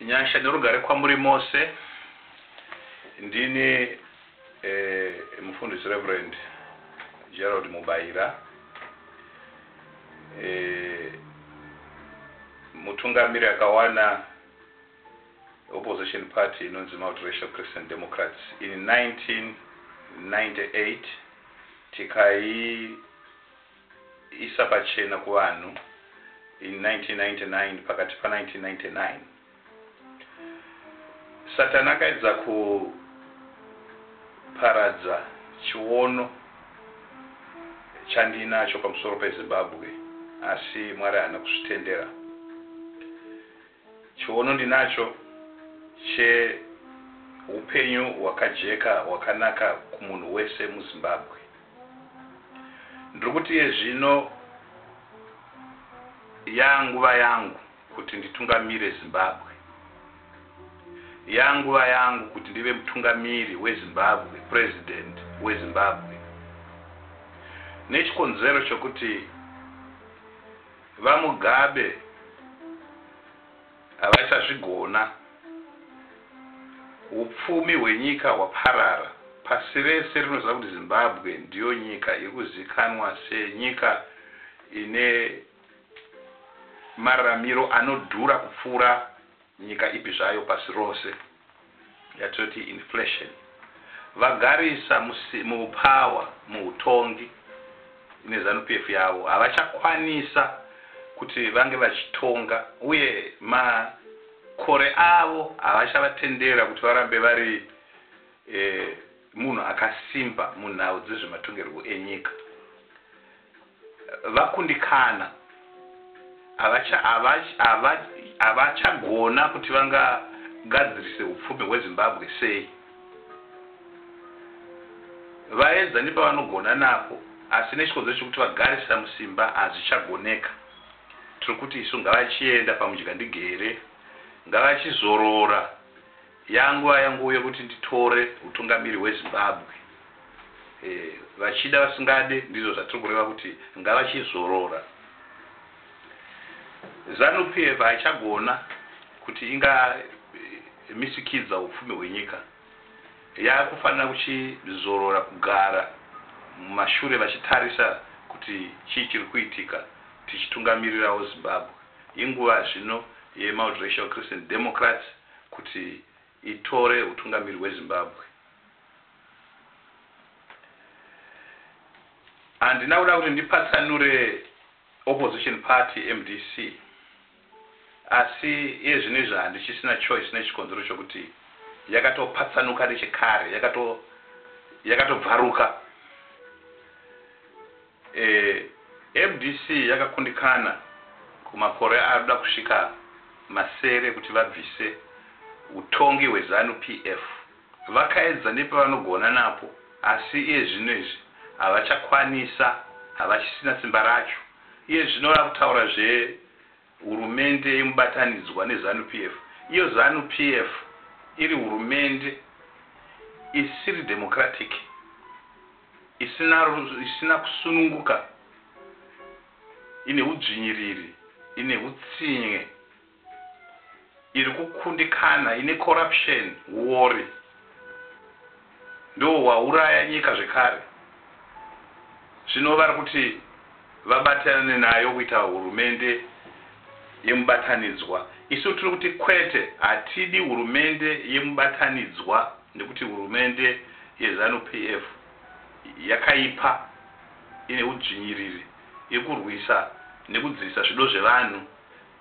Nyasha nerugare kwamuri mose. Ndini eh, mufundisi Reverend Gerald Mubaira eh, mutungamiri akawana opposition party inonzi Multiracial Christian Democrats in 1998 tikai kuisa pachena kuvanhu in 1999 pakati pa 1999 Satan akaedza kuparadza chiono chandiinacho pamusoro peZimbabwe asi Mwari haana kuzvitendera. Chiono ndinacho chehupenyu hwakajeka hwakanaka kumunhu wese muZimbabwe. Ndiri kuti iye zvino yaanguva yangu kuti nditungamire Zimbabwe. Yaanguva yangu kuti ndive mutungamiri weZimbabwe, President weZimbabwe. Nechikonzero chokuti. VaMugabe havachazvigona, hupfumi hwenyika hwaparara, pasi rese rinoziva kuti Zimbabwe ndiyo nyika iri kuzikanwa senyika ine mararamiro anodhura kupfuura. Nyika ipi zvayo pasi rose yatinoti inflation vagarisa mupower muhutongi neZanu PF yavo havachakwanisa kuti vange vachitonga uye makore avo havachavatenderera kuti varambe vari munhu akasimba munhau dzezvematongerwo enyika. vakundikana havacha hava havachagona kuti vanga gadzirise hupfumi hwezimbabwe sei vaedza nepavanogona napo asi nechikonzero chekuti vagarisa musimba hazvichagoneka tiri kuti isu ngavachienda pamudyandigere ngavachizorora Yaa nguva yangouya kuti nditore hutungamiri hweZimbabwe vachida vasingade ndizvo zvatiri kureva kuti ngavachizorora Zanu PF haichagona kuti inga misikidza hupfumi hwenyika yakufanira kuchizorora kugara mumashure vachitarisa kuti chii chiri kuitika tichitungamirirawo Zimbabwe inguva zvino yemaultracial Christian Democrats kuti itore hutungamiri hweZimbabwe. Handina kuda kuti ndipatsanure opposition party mdc asi iye zvino izvi handichisina choice nechikonzero chokuti yakatopatsanuka nechekare, yakatobvaruka. Mdc yakakundikana kumakore anoda kusvika masere kuti vabvise hutongi hweZanu PF. Vakaedza nepavanogona napo asi iye zvino izvi havachakwanisa, havachisina simba racho. Iye zvino vakutaura zve Hurumende yemubatanidzwa neZanu PF, iyo Zanu PF iri hurumende isiri democratic, isina isina kusununguka, ine hudzvinyiriri, ine hutsinye. iri kukundikana ine corruption huori ndiwo hwauraya nyika zvekare zvino vari kuti vabatirane nayo kuita hurumende yemubatanidzwa isu tiri kuti kwete hatidi hurumende yemubatanidzwa nekuti hurumende yezanu PF yakaipa ine udzvinyiriri iri kurwisa nekudzivisa zvido zvevanhu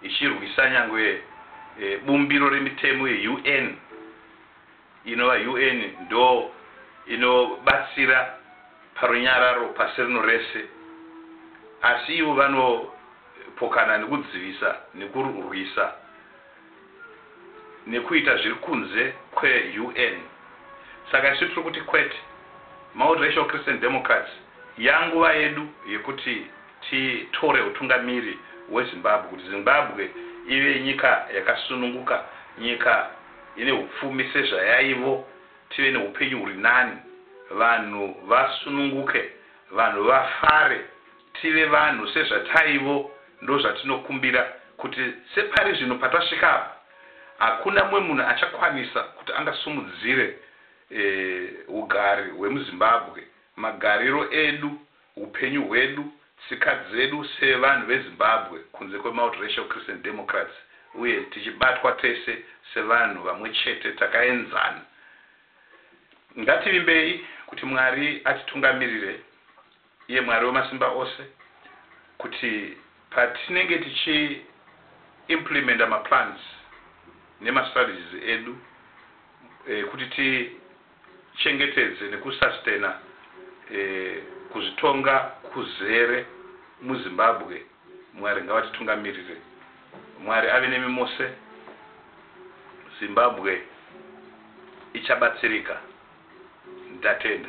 ichirwisa nyangwe bumbiro remitemo yeUN inova UN ndo inobatsira parunyararo pasi rino rese asi ivo vanopokana nekudzivisa nekurwisa nekuita zviri kunze kweUN saka isu tiri kuti kwete Multiracial Christian Democrats yanguva yedu yekuti Titore hutungamiri hweZimbabwe kuti Zimbabwe ive nyika yakasununguka, nyika ine hupfumi sezvayaivo, tive nehupenyu huri nani, vanhu vasununguke, vanhu vafare, tive vanhu sezvataivo, ndozvatinokumbira kuti separi zvino patasvika apa hakuna mumwe munhu achakwanisa kuti angasumudzire hugari hwemuZimbabwe, magariro edu, Hupenyu hwedu, tsika dzedu sevanhu veZimbabwe kunze kweMultiracial Christian Democrats uye tichibatwa tese sevanhu vamwe chete takaenzana. Ngativimbei kuti Mwari atitungamirire, iye Mwari wemasimba ose, kuti patinenge tichi implementer maplans nemastrategies edu kuti ti. chengetedze neku sustainer kuzvitonga kuzere muZimbabwe Mwari ngavatitungamirire Mwari ave nemi mose Zimbabwe ichabatsirika ndatenda.